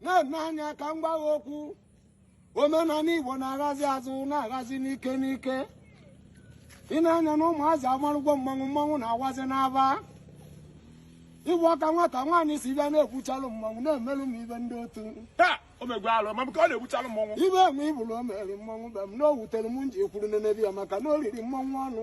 nene anya ka m gwa gị okwu omenala igbo na-aghazi azụ na-aghazi n'ike n'ike ị na-anya na ụmụazị amarụgwo mmanwụ mmanwụ na-awazi n'aba ịbụ ọka nwata nwaanyị si bịa na-ekwuchalụ mmanwụ na-emelụ m ibe ndị otu taa o megwe alụ ma bụka ọ na-egbuchalụ mmọnwụ ibe enwe ibulu o mere mmanwụ be m na o wutere m nji ekwuru n'enebi ya maka na o riri mmanwụ ọnụ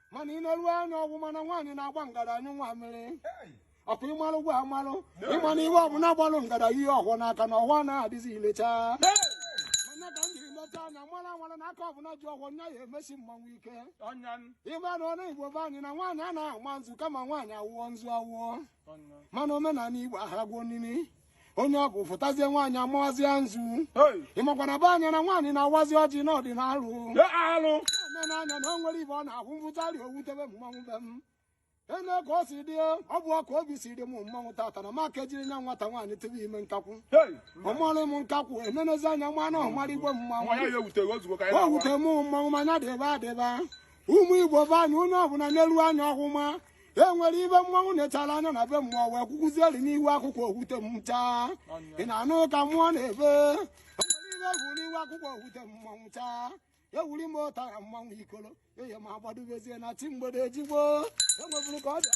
mana ị na-ele anya ọhụma na nwaanyị na-agba ngada anyụ nwa mmiri ọ kwa ị malụgwa amalụ ịma na ihe ọbụla gbalụ ngada jie ọhọ n'aka na ọhọ anaghị adịzi ile cha mana ka m jiri lecha anya mara amara na aka ọbụla ji ọhọ nya ya emesi mmanwụ ike ịma na ọnụ igbo be anyị na nwaanyị anaghị ama nzu kama nwaanyị awụọ nzu awụọ mana omenala igbo ahagwuo nini onye ọgwụ fụtazie nwaanyị amawazie nzu ị makwa na be anyị na nwaanyị na-awazi ọjị n'ọdịnalụ alụ omenanya na o nwere ibe ọ na-ahụ mvụtari o wutebe mmanwụ be m ene ka o si dị ọ bụ ọka obi si dị m mmanwụ tata na maka ejiri nya nwata nwaanyị tebe ime nkakwụ ọmụọla m nkakwụ enenezi anya nwa na ọmara igwe mmanwụ o wute m mmanwụ ma nya dịba adịba ụmụ igbo be anyị onye ọbụla nelu anya ọhụma e nwere ibe mmanwụ na-echara anya na be mmụọ wee kwụkwụzieri n'ihu akwụkwọ o wute m chaa ị na-anụ ka mmụọ na-ebe o nwere ibe egwu n'ihu akwụkwọ o wute m mmanwụ chaa ewuri m ụtara mmanwụ ikolo eye ma agbadobezie na chi mgbede ejigbo enweburu ka ọ bịa